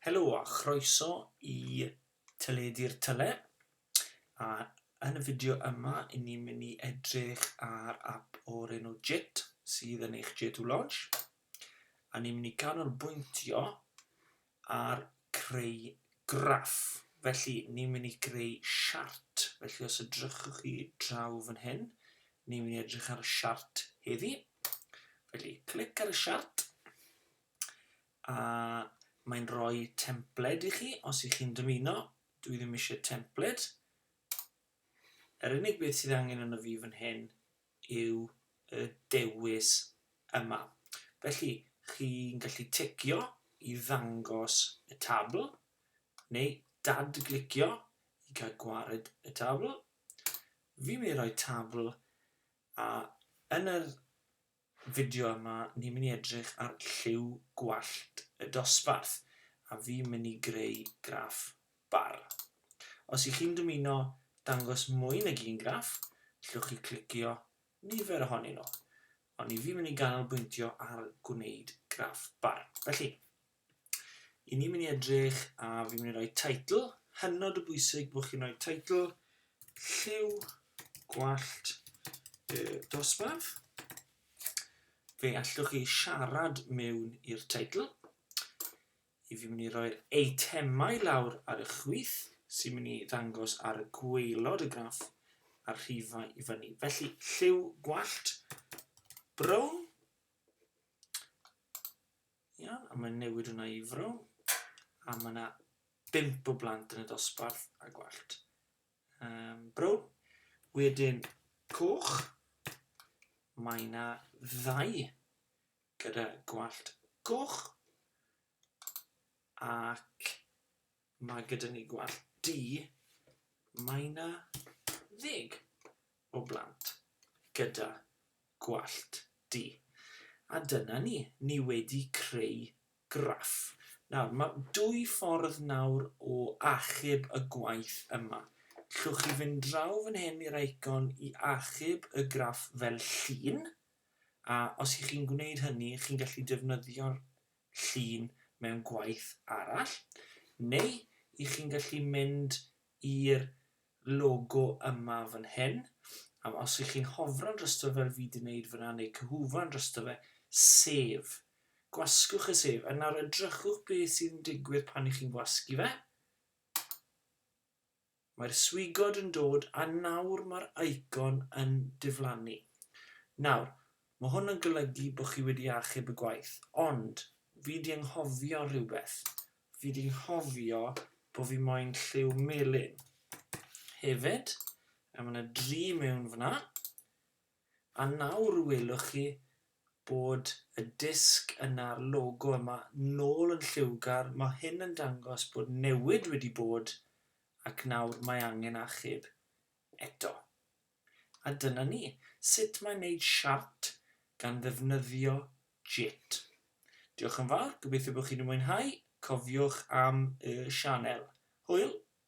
Helo a chroeso i Teledu'r Tyle a yn y fideo yma i ni'n mynd i edrych ar app o'r enw JIT sydd yn eich J2 Lodge a ni'n mynd i ganolbwyntio ar creu graff. Felly, ni'n mynd i greu siart. Felly, os edrychwch chi draw fan hyn, ni'n mynd i edrych ar y siart heddi. Felly, clic ar y siart. A mae'n rhoi templed i chi, os ych chi'n dymuno. Dwi ddim eisiau templed. Yr unig beth sydd angen yn y fi fan hyn yw y dewis yma. Felly, chi'n gallu ticio i ddangos y tabl, neu dad-glicio i gael gwared y tabl. Fi'n mynd i roi tabl, a yn yr fideo yma, ni'n mynd i edrych ar lliw gwallt y dosbarth, a fi'n mynd i greu graff bar. Os y'ch chi'n dymuno dangos mwy nag un graff, g'llwch chi clicio nifer ohonyn nhw. Ond ni fi'n mynd i ganolbwyntio ar gwneud graff bar. Felly, i ni mynd i edrych a fi'n mynd i roi teitl, hynod o bwysig bod chi'n rhoi teitl lliw gwallt y dosbarth. Fe allwch chi siarad mewn i'r teitl. i fi'n mynd i roi'r eitemau lawr ar y chwith sy'n mynd i ddangos ar y gwaelod y graff a'r rhifau i fyny. Felly lliw gwallt brown. Iawn, a mae'n newid hwnna i frown. A mae yna bimp o blant yn y dosbarth a gwallt. Um, brown. Wedyn coch. Mae yna ddau gyda gwallt goch ac mae gyda ni gwallt du, mae yna ddeg o blant gyda gwallt du. A dyna ni, ni wedi creu graff. Nawr, mae dwy ffordd nawr o achub y gwaith yma. Llwch chi fynd draw fan hyn i'r eicon i achub y graff fel llun, A os y'ch chi'n gwneud hynny, chi'n gallu defnyddio'r llun mewn gwaith arall, neu y'ch chi'n gallu mynd i'r logo yma fan hyn, a os y'ch chi'n hofran drosto fel fi 'di 'neud fan'na, neu cyhufran drosto fe, save. Gwasgwch y save, a nawr edrychwch beth sy'n digwydd pan y'ch chi'n gwasgu fe. Mae'r swigod yn dod a nawr mae'r eicon yn diflannu. Nawr, mae hwn yn golygu bod chi wedi achub y gwaith, ond fi 'di anghofio rhywbeth. Fi 'di nghofio bod fi moyn lliw melyn hefyd, a mae 'na dri mewn fan'na. A nawr welwch chi bod y disg yna'r logo yma nôl yn lliwgar, mae hyn yn dangos bod newid wedi bod ac nawr mae angen achub eto. A dyna ni, sut mae wneud siart gan ddefnyddio Jit. Diolch yn fawr, gobeithio bod chi wedi mwynhau, cofiwch am y sianel. Hwyl!